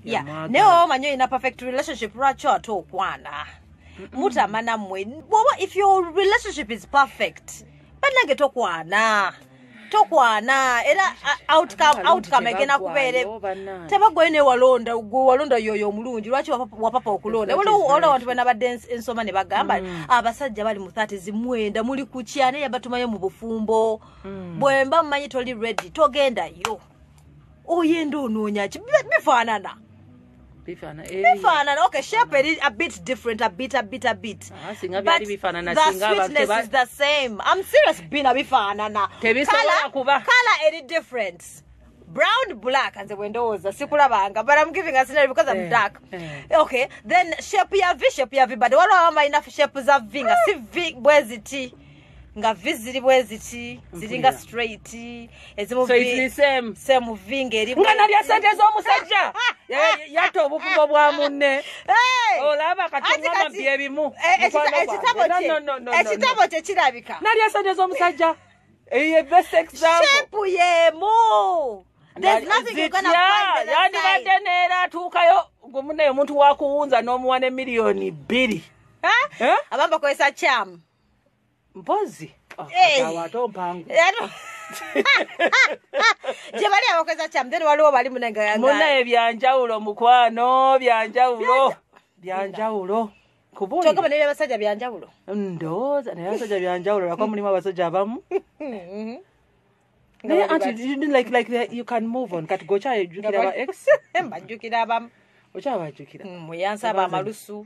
yeah. naye oba omanyi olina perfect relationship lwaki ate okwana mutama nammwe bwoba if your relationship is perfect banange tokwana tokwana era uh, outcome outcome egenda kubeere tebagwayo naye walonda gwe walonda yoyo omulungi lwaki wapapa okulonda waliwo abantu bana badde ensoma ne bagamba mm. abasajja bali mu thati zimwenda muli kukya naye yabatumayo mu bufumbo mm. bwemba mumanyi toli ready togendayo oyenda onoonya ki bifaanana bifaanana eh. okay shape eri a bit different a bit a bit a bit ah, singa byali bifaanana the sweetness is the same i'm serious bina bifaanana tebisobola kuba color eri different brown black nze bwendowooza sikulabanga but i'm giving a scenario because i'm eh, dark eh. okay then shape ya v shape ya v but waliwo abamu balina shape za v nga si v bweziti nga vi ziri bweziti ziringa straight ezimusame vi ngaeringa nalya sente z'omusajja yatta obufubo bwa munne olaba katiama byebimu eh, ekitabo kye kirabika nalya sente z'omusajja eye best example yemu yandibadde neera atuukayo gumunaye omuntu wakuwunza n'omuwa ne miliyoni bbiri abamba kozesa kyamu mpozi oh, gyebali abakozesa kyamu then waliwo bali munaye byanjawulo mukwano byanjawulo byanjawulo kyogamba naye abasajja byanjawulo ndowooza naye abasajja byanjawulo lwakuba mulimu abasajja abamu mm-hmm. naye anti like like you can move on kati gokyajukira ba ex mbajukira abamu okyabajukira mm, muyansaba amalusu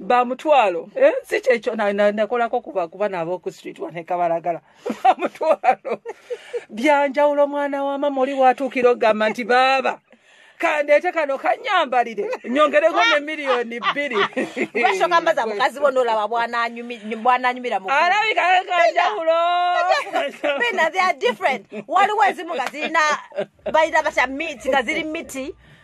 bamutwalo eh, si kyekyo nakolako kuba kuba nabo oku street wanekabalagala bamutwalo byanjawulo omwana wa mama oli watuukira okugamba nti baaba kandeete kano kanyambalire nyongereko ne miliyoni bbiri bashokambaza mukazi bona olaba bwananyumira alabika kanjawulo bena they are different waliwo ezimu nga zirina balina batya miti nga ziri miti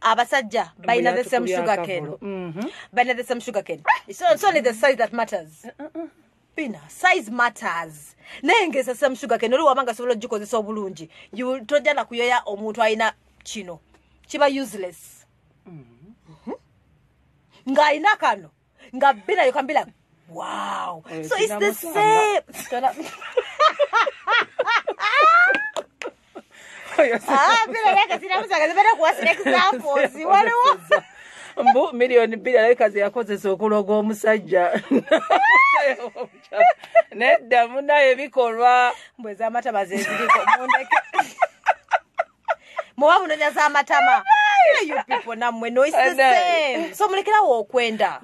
abasajja balina the same sugar cane mm-hmm. balina the same sugar cane so it's only the size that matters bina size matters naye ngeza same sugar cane oli wabanga sobola ogikozesa obulungi tojja na kuyoya omuntu alina kino kiba useless mm-hmm. Mm-hmm. ng'alina kano nga bina you can be like wow eh, so it's the same ah bina like sina musanga zibera kuwa sina examples wale wa mbu milioni bina like kazi yako zese okuloga omusajja nedda munaye bikolwa mbwe zamata bazeziriko mundeke muba munonya za matama namwe so mulekerawo okwenda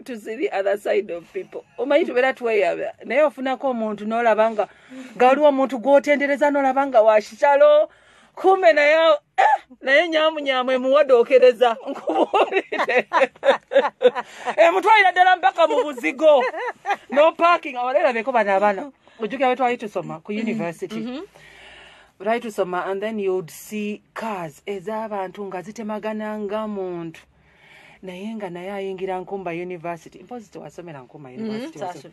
to see the other side of people omanyi tubeera tweyaba naye ofunako omuntu nolaba nga nga waliwo omuntu gwotendereza nolaba nga wakitalo mm -hmm. kumbe naye eh, naye nyamunyamu emuwade okereza nkubuulire emutwalira ddala mpaka mu buzigo no parking awalera beko bano abana ojjukira betwali tusoma ku mm-hmm. university mm-hmm. twali tusoma and then you'd see cars ez'abantu nga zitemagana nga muntu naye nga naye ayingira nkumba university mpozi tewasomera nkumba mm-hmm. university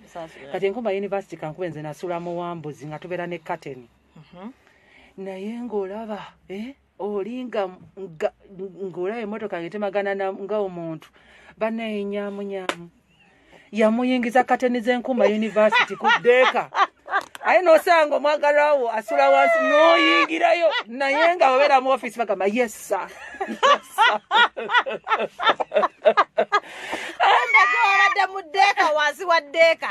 kati nkumba university kankuba nze nasula muwambuzi nga tubeera ne kateni mm -hmm. mhm. naye ngaolaba eh, olinga ngaolaba emotoka ngetemagana nga omuntu banaye nyamunyamu yamuyingiza kateni zenkuuma univesity ku deeka aye nosanga omwagalawo asula wansi noyingirayo naye nga babeera mu office bagamba yesa abadde mu deeka wansi wa deeka